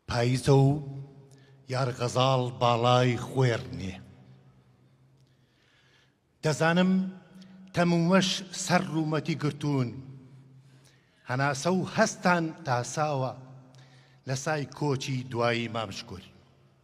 پاییزە و یارغەزاڵ باڵای خوێڕنێ. دەزانم تەموومەش سەر ڕوومەتی گرتوون. هەناسە و هەستان تاساوە لە سای کۆچی دوایی مام شکۆری.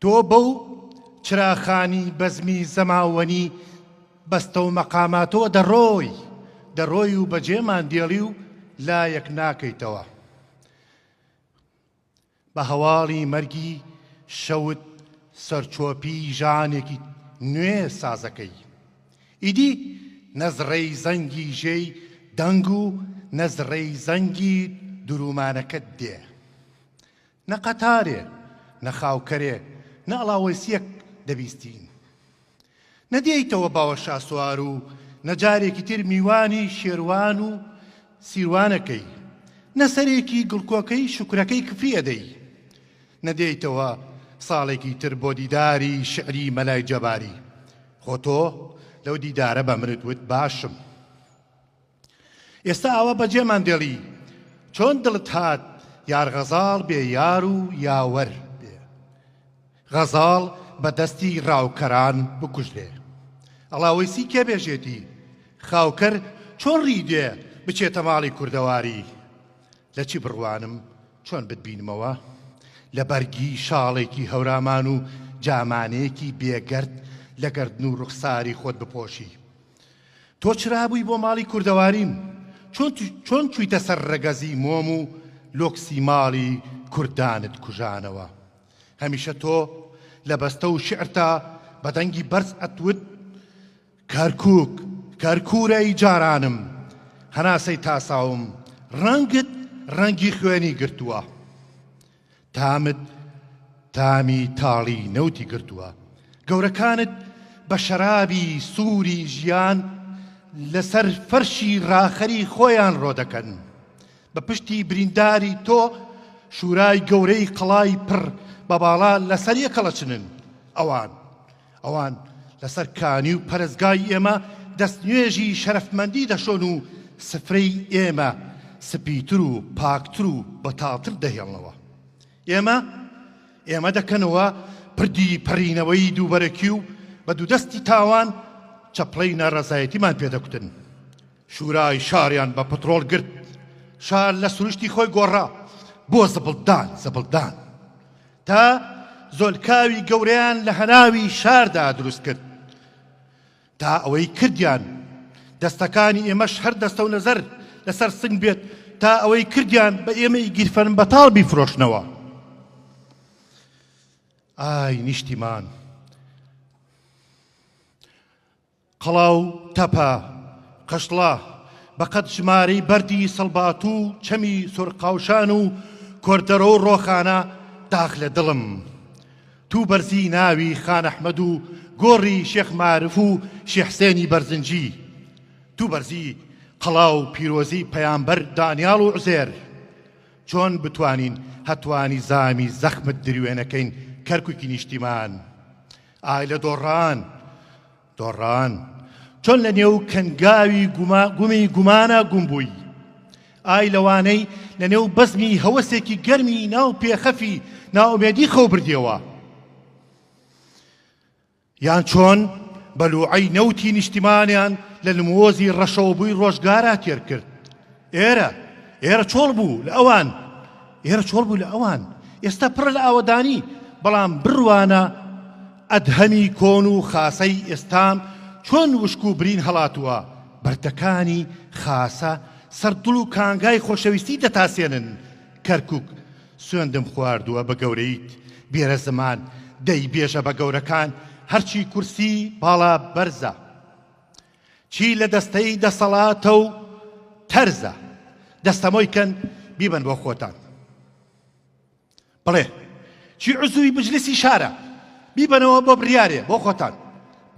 تۆ بەو چراخانی بەزمی زەماوەنی بەستەو مەقاماتەوە دەڕۆی، دەڕۆی و بەجێمان دێڵی و لایەک ناکەیتەوە. بە هەواڵی مەرگی شەوت سەرچۆپی ژانێکی نوێ سازەکەی. ئیدی نە زڕەی زەنگی ژێی دەنگ و نە زڕەی زەنگی درومانەکەت دێ. نە قەتارێ، نە خاوکەرێ، نە ئەڵاوەیسییەک دەبیستین. نەدێیتەوە باوە شاسوار و نە جارێکی تر میوانی شێروان و سیروان ئەکەی، نە سەرێکی گڵکۆکەی شوکرەکەی کفری ئەدەی، نەدێیتەوە ساڵێکی تر بۆ دیداری شیعری مەلای جەباری، خۆ تۆ لەو دیدارە بە منت وت باشم. ئێستا ئاوا بەجێمان دێڵی چۆن دڵت هات یارغەزاڵ بێ یار و یاوەر بێ غەزاڵ بە دەستی ڕاوکەران بکوژرێ ئەڵاوەیسی کێ بێژێتی خاوکەر چۆن ڕیدێ بچێتە ماڵی کوردەواری لە چی بڕوانم چۆن بتبینمەوە لە بەرگی شاڵێکی هەورامان و جامانەیەکی بێگەرد لە گردن و ڕوخساری خۆت بپۆشی تۆ چرابووی بۆ ماڵی کوردەواریم چۆن چۆن چوویتە سەر ڕەگەزی مۆم و لۆکسی ماڵی کوردانت کوژانەوە هەمیشە تۆ لە بەستە و شعرتا بە دەنگی بەرز ئەتوت کەرکک کەرکورەی جارانم هەناسەی تاساوم ڕەنگت ڕەنگی خوێنی گرتووە تامت تامی تاڵی نەوتی گرتووە. گەورەکانت بە شەرابی سووری ژیان لەسەر فەرشی ڕاخەری خۆیان ڕۆدەکەن. بە پشتی برینداری تۆ شورای گەورەی قەڵای پڕ بە باڵا لەسەر یەکەڵەچنن ئەوان. ئەوان لەسەر کانی و پەرستگای ئێمە دەستنوێژی شەرەفمەندی دەشۆن و سفرەی ئێمە سپیتر و پاکتر و بەتاڵتر دەهێڵنەوە. ئێمە ئێمە دەکەنەوە پردی پەڕینەوەی دووبەرەکی و بە دوودەستی تاوان چەپڵەی ناڕەزایەتیمان پێدەکوتن. شورای شاریان بە پترۆڵ گرت شار لە سروشتی خۆی گۆڕا بۆ زبڵدان زبڵدان تا زۆلکاوی گەورەیان لە هەناوی شاردا دروست کرد تا ئەوەی کردیان دەستەکانی ئێمەش هەر دەستە و نەزەر لەسەر سنگ بێت تا ئەوەی کردیان بە ئێمەی گیرفەن بەتاڵ بیفرۆشنەوە ئای نیشتیمان قەڵاو، تەپە، قشڵە، بەقەد ژمارەی بەردی سەڵباتوو و چەمی سۆرقاوشان و کۆردەرۆ و ڕۆخانە داخ لە دڵم توو بەرزی ناوی خان ئەحمەد و گۆڕی شێخ مارف و شێ حسێنی بەرزنجی توو بەرزی قەڵاو پیرۆزی پەیامبەر دانیاڵ و عوزێر چۆن بتوانین هەتوانی زامی زەخمت دروێنەکەین کەرکوکی نیشتیمان ئای لە دۆڕان دۆڕان چۆن لە نێو کەنگاوی گومی گومانە گوم بووی ئای لەوانەی لە نێو بەزمی هەوەسێکی گەرمی ناو پێخەفی ناومێدی خەو بردیەوە یان چۆن بەلوعی نەوتی نیشتیمانیان لە نمۆزی ڕەشەوەبووی ڕۆژگارا تێر کرد ئێرە ئێرە چۆڵ بوو لە ئەوان ئێرە چۆڵ بوو لە ئەوان ئێستا پڕە لە ئاوەدانی بەڵام بڕوانە ئەدهەمی کۆن و خاسەی ئێستام چۆن وشک و برین هەڵاتووە بەردەکانی خاسە سەردڵ و کانگای خۆشەویستی دەتاسێنن کەرکک سوێندم خواردووە بە گەورەیت بێرە زمان دەی بێژە بە گەورەکان هەرچی کورسی باڵا بەرزە چی لە دەستەی دەسەڵاتە و تەرزە دەستەمۆی کەن بیبەن بۆ خۆتان بڵێ چی عزوی بجلسی شارە بیبەنەوە بۆ بڕیارێ بۆ خۆتان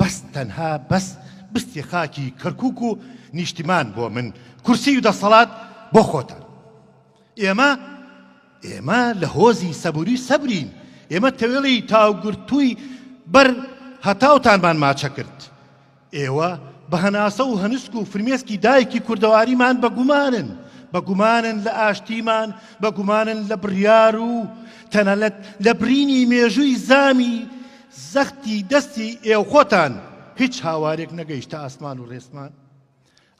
بەس تەنها بەس بستی خاکی کەرکک و نیشتیمان بۆ من کورسی و دەسەڵات بۆ خۆتان ئێمە ئێمە لە هۆزی سەبوری سەبرین ئێمە تەوێڵی تاوگرتووی بەر هەتاوتانمان ماچە کرد ئێوە بە هەناسە و هەنسک و فرمێسکی دایکی کوردەواریمان بە گومانن، بە گومانن لە ئاشتیمان، بە گومانن لە بڕیار و تەنانەت لە برینی مێژووی زامی زەختی دەستی ئێوخۆتان هیچ هاوارێک نەگەیشتە ئاسمان و ڕێسمان؟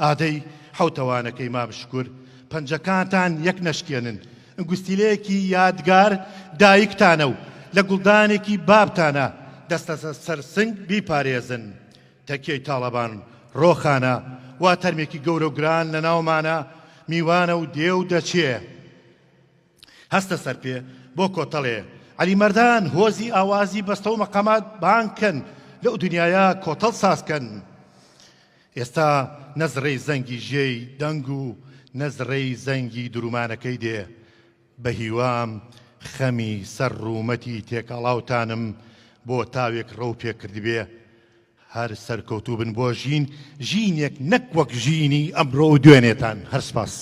ئادەی حەوتەوانەکەی مام شکور پەنجەکانتان یەک نەشکێنن ئنگوستیلەیەکی یادگار دایکتانە و لە گوڵدانێکی بابتانە دەستە سەر سنگ بیپارێزن تەکیەی تاڵەبان ڕۆخانە وا تەرمێکی گەورە و گران لە ناومانە میوانە و دێ و دەچێ هەستە سەرپێ بۆ کۆتەڵێ عەلی مەردان هۆزی ئاوازی بەستەو مەقامات بانگ کەن لەو دنیایە کۆتەڵ ساز کەن ئێستا نەزڕەی زەنگی ژێی دەنگ و نەزڕەی زەنگی درومانەکەی دێ بە هیوام خەمی سەر ڕوومەتی تێکەڵاوتانم بۆ تاوێک ڕەو پێ کردبێ هەر سەرکەوتوو بن بۆ ژین ژینێک نەک وەک ژینی ئەمڕۆ و دوێنێتان هەر سپاس.